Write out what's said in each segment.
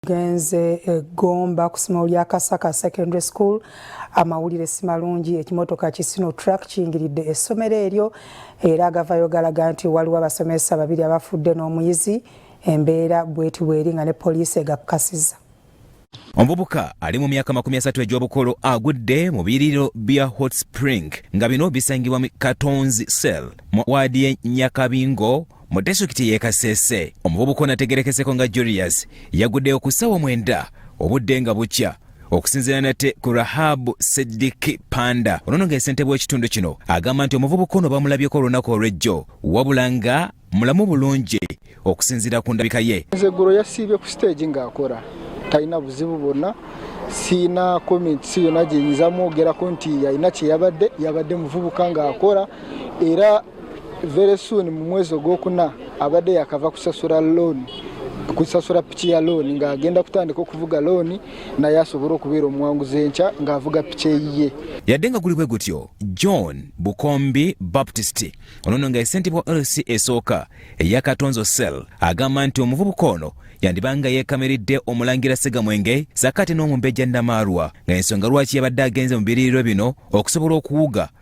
genze e Gomba ku ssomero lya Kasaka Secondary School amawulire si malungi ekimotoka ki Sino Truck kiyingiridde essomero eryo era agavayo galaga nti waliwo abasomesa babiri abafudde n'omuyizi embeera bweti bweri nga ne poliisi egakkasiza omuvubuka ali mu myaka makumi asatu egy'obukulu agudde mu biriro bya hot spring nga bino bisangibwa mu katonzi cell mu waadi ye nyakabingo mu disitulikiti y'e kasese omuvubuka onategerekeseko nga julius yaguddeyo ku ssaawa mwenda obudde nga bukya okusinziira nate ku rahabu sidiki panda onono nga esentebe w'ekitundu kino agamba nti omuvubuka ono bamulabyeko olunaku olw'ejjo wabula nga mulamu bulungi okusinziira ku ndabika ye nzeggulo yasiibye ku siteegi ng'akora talina buzibu bwonna siina comments yonna gyenyinza mwogerako nti yalina kyeyabadde yabadde muvubuka ng'akora era very soon mu mwezi ogwokuna abadde yakava kusasula looni kusasula piki ya looni ng'agenda kutandika okuvuga looni naye asobole okubeera omuwanguzi enkya ng'avuga piki eyiye yadde nga guli bwe gutyo john bukombi baptist onono nga esentebe wa lc esooka eya katonzo cell agamba nti omuvubuka ono yandiba nga yeekamiridde omulangira segamwenge sakati n'omumbejja namaalwa nga ensonga lwaki yabadde agenze mu biriiriro bino okusobola okuwuga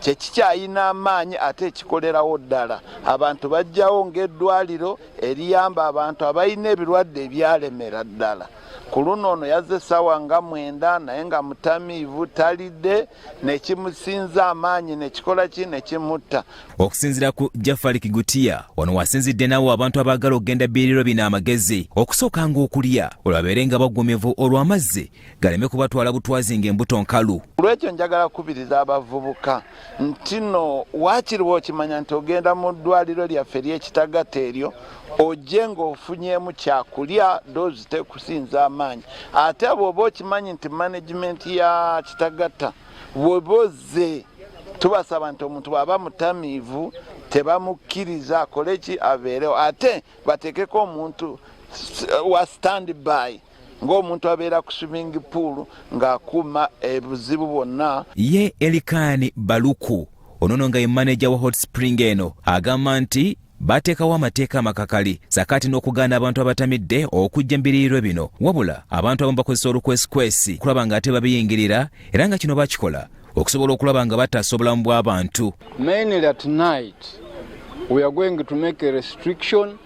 kyekikyayina amaanyi ate ekikolerawo ddala abantu bajjawo ng'eddwaliro eriyamba abantu abalina ebirwadde ebyalemera ddala ku luno ono yazze essaawa nga mwenda naye nga mutamiivu talidde nekimusinza amaanyi nekikola ki nekimutta okusinzira ku jafari kigutiya wano wasinzidde nawo abantu abaagala okugenda biriro bino amagezi okusooka nga okulya olwabeere nga baggumivu olw'amazzi galeme kubatwala butwazi nga embuto nkalu. Olwekyo njagala kukubiriza abavubuka nti no waakiri bw'okimanya nti ogenda mu ddwaliro lyaffe ly'ekitagata eryo ojje ng'ofunyeemu kyakulya doozi tekusinza amaanyi ate bw'oba okimanyi nti managimenti ya kitagata bw'oba ozze tubasaba nti omuntu bw'aba mutamiivu tebamukkiriza akole ki abeerewo ate bateekeko omuntu wa standby ng'omuntu abeera ku swimming pool ng'akuuma ebuzibu bwonna ye elikaani baluku onono nga ye maneja wa hot spring eno agamba nti bateekawo amateeka amakakali sakaati n'okugaana abantu abatamidde okujja mbiriirwe bino wabula abantu abamu bakozesa olukwesikwesi kulaba nga ate babiyingirira era nga kino bakikola okusobola okulaba nga bataasa obulamu bw'abantu